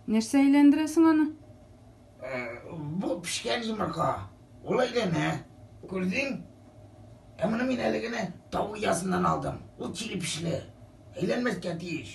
Нәрсә әйләндерәсең аны? Э, бу пешкән йомырка. Ул әйләнә. Күрдең? Ә моны мин әле генә тау оясыннан алдым. Ул чиле пешле. Әйләнмәскә тиеш.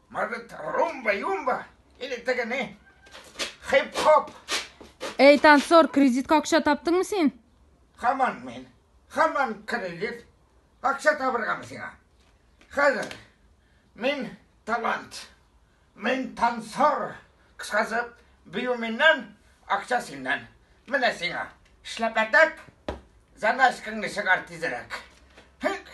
Может, румба-юмба или теге не? Хип-хоп. Эй, танцор, кредитка акча таптыңмы син? Хаман мен. Хаман кредит. Акча табыргамы сиңа? Хәзер. Мин талант. Мин танцор. Кыскасы, бию миннән, акча синнән. Менә сиңа. Эшләп әтәк. Заначкаңны чыгар тизрәк. Хик.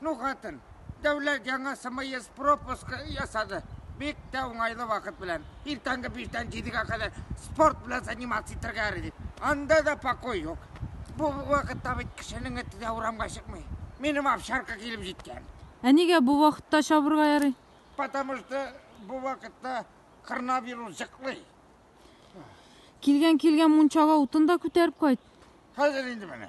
Ну хатын, Дәүләт яңа смс пропуска ясады. Бик тә уңайлы вакыт белән. Иртәнге биштән җидегә кадәр спорт белән заниматься итәргә яри, ди. Анда да покой юк. Бу вакытта бит кешенең эте дә урамга чыкмый. Минем овчарка килеп җиткән. Ә нигә бу вакытта чабырга ярый? Потому что бу вакытта коронавирус җыклый. Килгән-килгән мунчага утын да күтәреп кайт. Хәзер инде менә.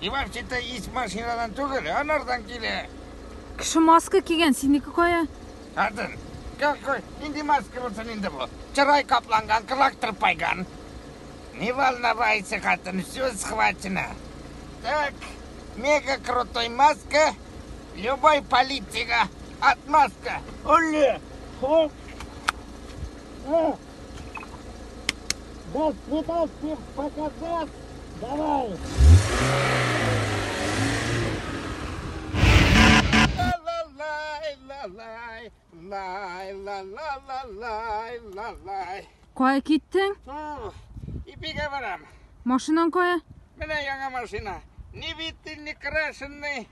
Иванчита ис машинадан түгел, анардан килә. Кеше маска кигән, синеке кая? Хатын, какой, нинди маска булсын инде бу? Чырай капланган, кылак тырпайган. Не волновайся, хатын, все схвачено. Так, мега крутой маска, любой политика, отмазка. Оле, хоп. Ну. Дай снимать всем показать. Давай. Кая киттең? Ипигә барам. Машинаң кая? Менә яңа машина. Ни биттен, ни крашенный.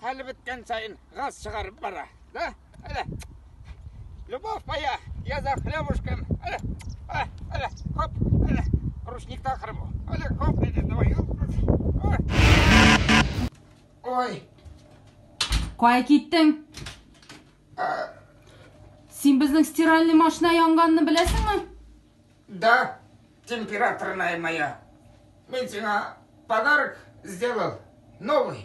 Хәле беткән саен газ чыгарып бара. Да? Әле. Любовь моя, я за хлебушком. Әле. Әле. Әле. Хоп. Әле. Рушникта кырып. Әле. Хоп. Әле. Давай. Ой. Кая киттең? Син безнең стиральный машина янганны беләсеңме? Да, температурная моя. Мин сиңа подарок сделал новый.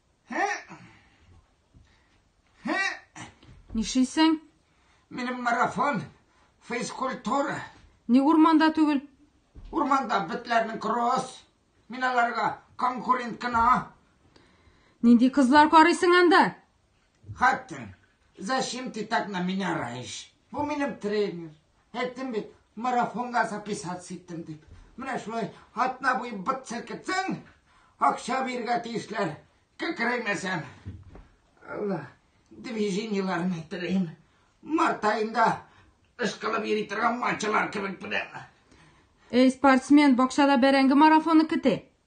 Нишлисең? Минем марафон, физкультура. Ни урманда түгел? Урманда битләрнең кросс. Мин аларга конкурент кына. Нинди кызлар карыйсың анда? Хаттин, зачем ты так на меня раешь? Бу минем тренер. Әйттем бит, марафонга записаться иттем дип. Менә шулай атна буе быт селкетсәң, акча бирергә тиешләр. Кекрәймәсәм. Алла, движениеләрне телим. Март аенда ышкылып йөри торган матчалар кебек беләм. Эй, спортсмен, бакчада бәрәңге марафоны көтә.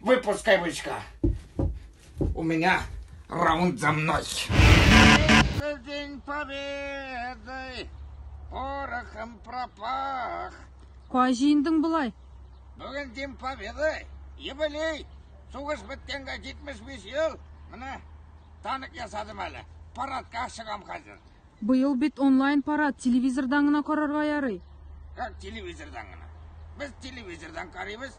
Выпускай бычка. У меня раунд за мной. Это день победы. Порохом пропах. Кай җыендың болай? Бүген день победы. Юбилей. Сугыш беткәнгә 75 ел. Менә танк ясадым әле. Парадка чыгам хәзер. Быел бит онлайн парад, телевизордан гына карарга ярый. Как телевизордан гына? Без телевизордан карыйбыз.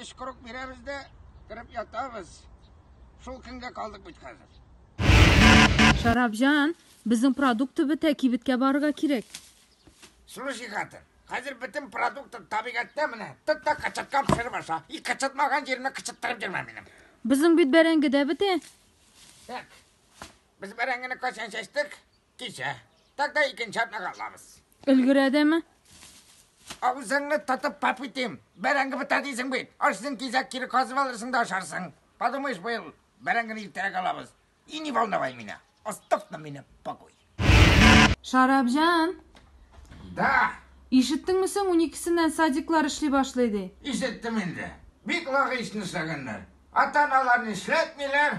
Өч круг бирәбез дә, кереп ятабыз. Шул көнгә калдык бит хәзер. Шарапҗан, безнең продукты бетә, кибеткә барырга кирәк. Слушай, хатын, хәзер бөтен продукты табигатьтә менә. Тот та кычытка пешереп аша. И кычытмаган җиремә кычыттырып йөрмә минем. Безнең бит бәрәңге дә бетә. Так. Без бәрәңгене кайчан чәчтек? Кичә. Тогда икенче атнага алабыз. Өлгерәдеме? Авызыңны тотып пап итим. Бәрәңге бетә дисең бит. Ашсын кизәк кире казып алырсың да ашарсың. Подумаешь, быел бәрәңгене иртәрәк алабыз. И не волновай меня. Оставь на меня покой. Шарапҗан! Да. Ишеттеңме соң, уникесеннән садиклар эшли башлый ди. Ишеттем инде. Бик логично эшләгәннәр. Ата-аналар нишләтмиләр?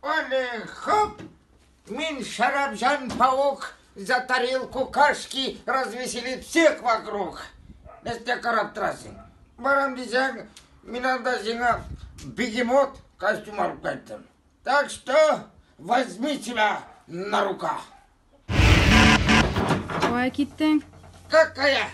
Оле хоп! Мин Шәрәпҗан паук за тарелку кашки развеселит всех вокруг. Нәрсә карап торасың? Барам дисәң, мин анда сиңа бегемот костюм алып кайттым. Так что возьми себя на руках. Кая киттең? Какая?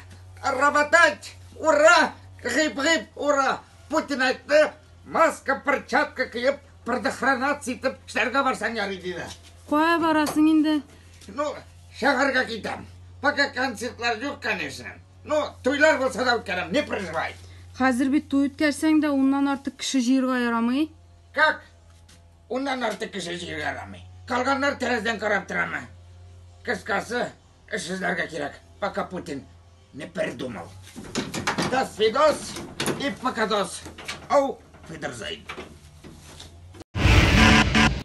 Работать! Ура! Гыйп-гыйп, ура! Путин айтты, маска, перчатка киеп, предохранаться итеп эшләргә барсаң ярый диде. Кая барасың инде? Ну, шәһәргә китәм. Пока концертлар юк, конечно. Ну, туйлар булса да үткәрәм, не переживай. Хәзер бит туй үткәрсәң дә, уннан артык кеше җыерга ярамый. Как? Уннан артык кеше җыю ярамый. Калганнар тәрәздән карап торамы? Кыскасы, эш эзләргә кирәк, пока Путин не придумал. До свидос и покадос. Ау, Фидерзейн.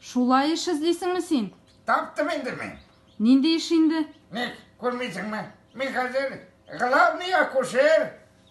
Шулай эш эзлисеңме син? Таптым инде мин. Нинди эш инде? Ник, күрмисеңме? Мин хәзер главный акушер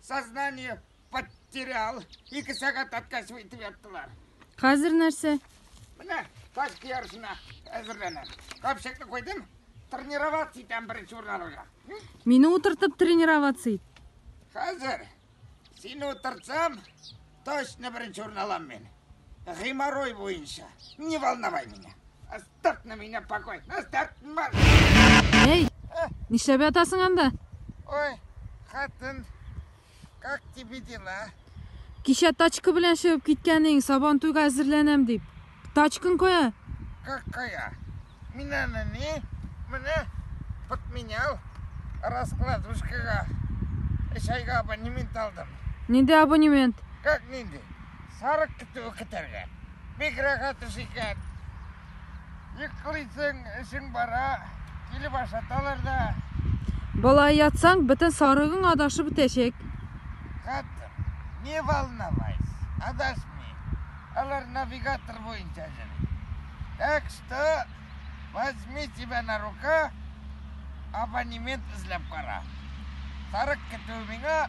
Сознание потерял. Ике сәгать аткач үйтеп яттылар. Хәзер нәрсә? Менә тачка ярышына әзерләнәм. Капчыкны куйдым. Тренироваться итәм беренче урын алырга. Мине утыртып тренироваться ит. Хәзер сине утыртсам, точно беренче урын алам мин. Геморрой буенча. Не волновай меня. Тартны мине покой. Нас тартма. Эй! Нишләп ятасың анда? Ой, хатын. Как тебе дела? Кичә тачка белән чыгып киткәнең, сабан туйга әзерләнәм дип. Тачкын кая? Как кая? Мин аны ни? Менә подменял раскладушкага. Чайга абонемент алдым. Нинди абонемент? Как нинди? Сарык көтү көтәргә. Бик рәхәт эш икән. Йоклыйсың, эшең бара, килеп ашаталар да. Болай ятсаң, бөтен сарыгың адашып бетәчәк. Хәтер, не волновайся, адашмый. Алар навигатор буенча йөри. Так что возьми тебя на рука, абонемент эзләп кара. Сарык көтү миңа,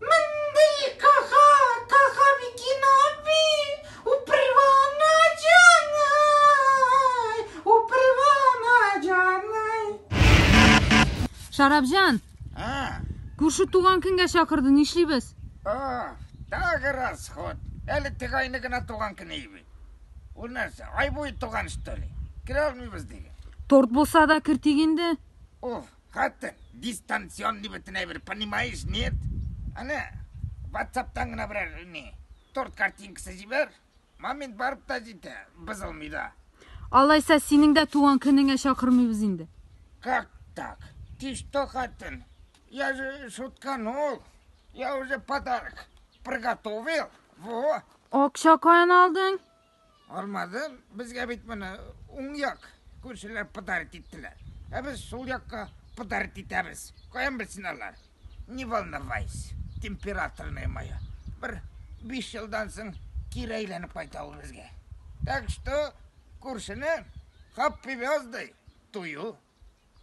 Мондый кага кага Микин аби, упривана җаный, упривана җаный. Шарапҗан! А. Күрше туган көнгә чакырды, нишлибез? О, тагы расход. Әле теге айны гына туган көне иби. Ул нәрсә, ай буе туган что ли? Керә алмыйбыз диген. Торт булса да кертик инде. Уф, Хәтта дистанционный бөтен әйбер, понимаешь, нет? Әнә, ватсаптан гына берәр ни, торт картинкасы җибәр, момент барып та җитә, бозылмый да. Алайса, синең дә туган көнеңә чакырмыйбыз инде. Как так? Ты что, хатын? Я же шутканул. Я уже подарок приготовил. Во. Акча каян алдың? Алмады, безгә бит моны уң як күршеләр подарить иттеләр. Ә без сул якка подарить итәбез. Каян белсен алар? Не волновайся, температорная моя. Бер биш елдан соң кире әйләнеп кайта ул безгә. Так что күршене хаппи вяздай тую